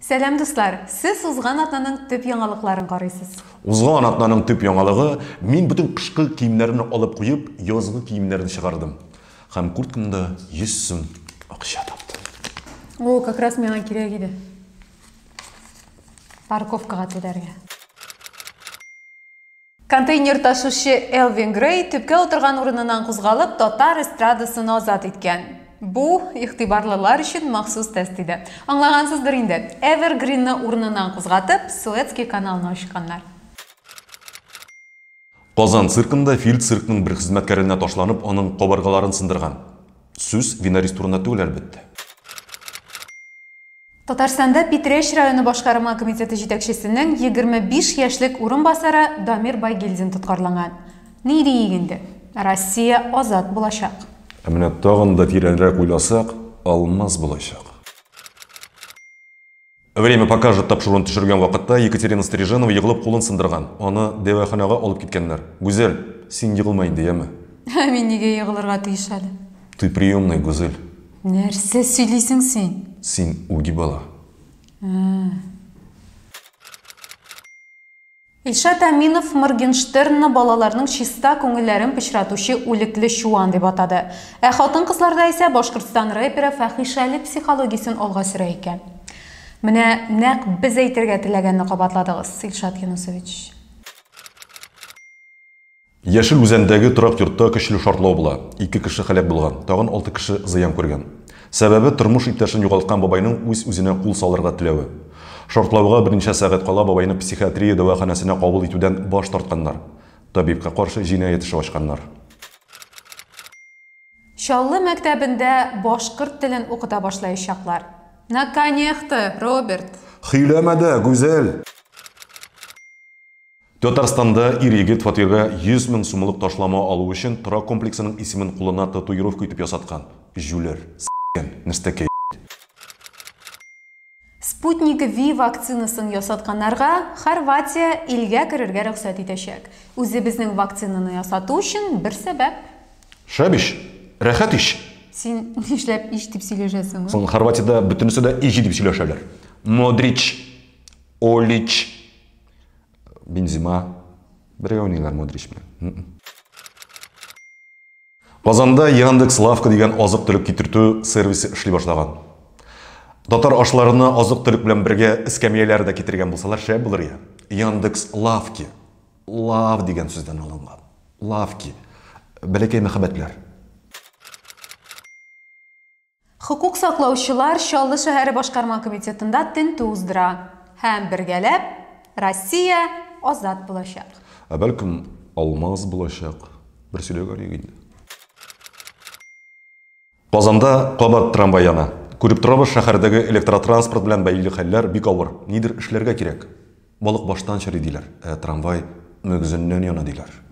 Сәлам дуслар! Сез узган атнаның төп яңалыкларын карыйсыз. Узган атнаның төп яңалыгы, мин бөтен кышкы киемнәрне алып куеп, язгы киемнәрне чыгардым. Һәм курткамда 100 сум акча таптым. О, как раз миңа кирәк иде. Парковкага түләргә. Контейнер ташучы Элвин Грей төпкә утырган урыныннан кузгалып, татар эстрадасын азат иткән. Бу, игътибарлылар өчен махсус тест иде. Аңлагансыздыр инде, Эвергринны урыныннан кузгатып, Суэцкий каналны ачканнар. Казан циркында фил циркның бер хезмәткәренә ташланып, аның кабыргаларын сындырган. Сүз Винарис турында түгел, әлбәттә. Татарстанда Питрәч районы башкарма комитеты җитәкчесенең 25 яшьлек урынбасары Дамир Байгилдин тоткарланган. Ни диик инде, Россия азат булачак. Ә менә тагын да тирәнрәк уйласак, алмаз булачак. Время покажет тапшыруын төшергән вакытта Екатерина Стриженова егылып кулын сындырган. Аны дәваханага алып киткәннәр. Гүзәл, син егылма инде, яме? Ә мин нигә егылырга тиеш әле? Ты приемная, Гүзәл. Нәрсә сөйлисең син? Син үги бала. Илшат Әминов Моргенштернны балаларның чиста күңелләрен пычратучы үлекле чуан дип атады. Ә хатын-кызларда исә Башкортстан рэперы фәхишәле психологиясен алга сөрә икән. Менә нәкъ без әйтергә теләгәнне кабатладыгыз, Илшат Юнысович. Яшел Үзәндәге торак йортта көчле шартлау була, ике кеше һәлак булган, тагын алты кеше зыян күргән. Сәбәбе, тормыш иптәшен югалткан бабайның үз-үзенә кул салырга теләве. Шартлауга берничә сәгать кала бабайны психиатрия дәваханәсенә кабул итүдән баш тартканнар. Табибка каршы җинаять эше ачканнар. Чаллы мәктәбендә башкорт телен укыта башлаячаклар. Наконехто, Роберт! Хөйләмә дә, Гүзәл! Татарстанда ир-егет фатирга 100 мең сумлык ташлама алу өчен торак комплексының исемен кулына татуировка итеп ясаткан. Җүләр. С**кән. Нәстәкәй. Sputnik V вакцинасын ясатканнарга Хорватия илгә керергә рөхсәт итәчәк. Үзебезнең вакцинаны ясату өчен бер сәбәп. Шәп ич! Рәхәт ич! Син нишләп ич дип сөйләшәсең? Соң Хорватиядә бөтенесе дә ич дип сөйләшәләр. Модрич. Олич. Бензима бергә уйныйлар Модрич белән. Казанда Яндекс Лавка дигән азык-төлек китертү сервисы эшли башлаган. Татар ашларына азык-төлек белән бергә эскәмияләр дә китергән булсалар шәп булыр я. Яндекс Лавки. Лав дигән сүздән алынган. Лавки. Бәләкәй мәхәббәтләр. Хокук саклаучылар Чаллы шәһәре башкарма комитетында тентү уздыра һәм бергәләп Россия азат булачак. Ә бәлкем алмаз булачак? Бер сөйләп алыйк инде. Казанда кабат трамвай яна. Күреп торабыз, шәһәрдәге электротранспорт белән бәйле хәлләр бик авыр. Нидер эшләргә кирәк. Балык баштан чери диләр, ә трамвай мөгезеннән яна диләр.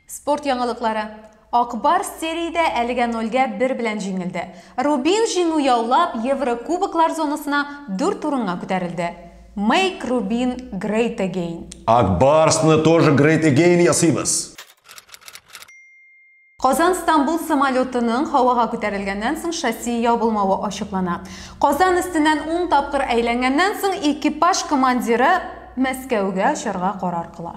Спорт яңалыклары. Ак Барс сериядә әлегә нольгә бер белән җиңелде. Рубин җиңү яулап, Еврокубоклар зонасына дүрт урынга күтәрелде. Make Rubin great again! Ак Барсны тоже great again ясыйбыз! Казан-Стамбул самолетының һавага күтәрелгәннән соң шасси ябылмавы ачыклана. Казан өстеннән ун тапкыр әйләнгәннән соң экипаж командиры Мәскәүгә очарга карар кыла.